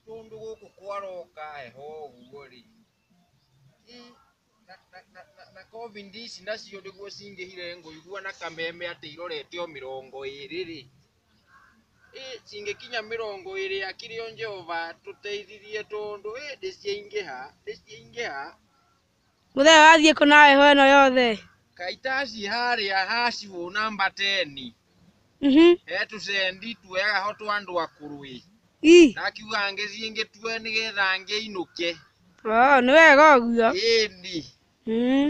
tũndũ gũkũ kwaroka heho ũguo rĩ Ĩ, na- na- na- na- na covid ici nacio nĩguo cingĩhire ngũigua na kameme atĩ irorete o mĩrongo ĩrĩ rĩ Ĩ, cingĩkinya mĩrongo ĩrĩ akĩrĩ o Jehova tũteithirie tondũ ĩ ndĩciaingĩha ndĩciaingĩha Mũthee wathiĩ kũ na heho ĩno yothe? Kaĩ taciĩ harĩa ha cibũ namba teni, Mhm. he tũcendi twega ho twa andũ akũrũ ĩ. Ii. Ndakiuga ngĩthiĩ ngĩtue nĩgetha ngĩinũke. Oo, nĩ wega ũguo. Ĩni. Mhm.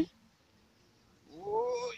Ũũi.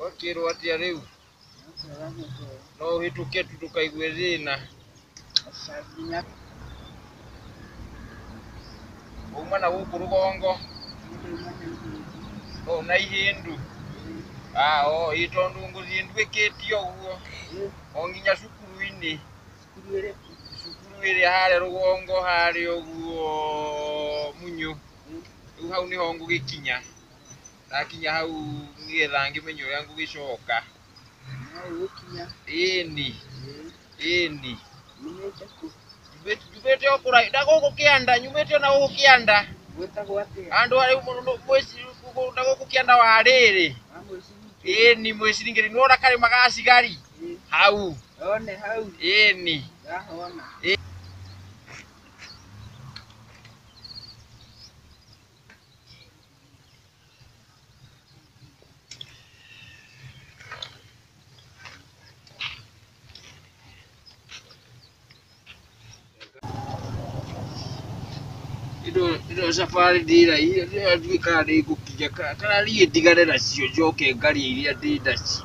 Wakĩrwo atĩa rĩu? No ũhĩtũke tu ndũkaigue thĩna. Wauma na gũkũ rũgongo? No na ihĩndũ? Ah, o, ĩ tondũ ngũthiĩ nduĩkĩtie ũguo. O nginya cukuru-inĩ. Cukuru ĩrĩa harĩa rũgongo harĩa ũguo Munyũ. Rĩu hau nĩho ngũgĩkinya. ndakinya hau nĩgetha ngĩmenye ũrĩa ngũgĩcoka No ũgũkinya. ĩni Ĩĩ. ĩni Nyumĩte kũ? Njumĩte- njumĩte o kũra na gũkũ kĩanda nyumĩte na gũkũ kĩanda Gwĩtagwo atĩa? andũ arĩ na gũkũ kĩanda wa rĩrĩ Wa mũciringi? ĩni mwĩciringĩri nĩwona karĩma ga cigari Ĩĩ. hau One hau. ĩni Ndahona. ino safari ndĩraihire ndĩratuĩkaga nĩ ngũkinya ka- kana niĩ ndigane nacio njoke ngarie iria ndĩ nacio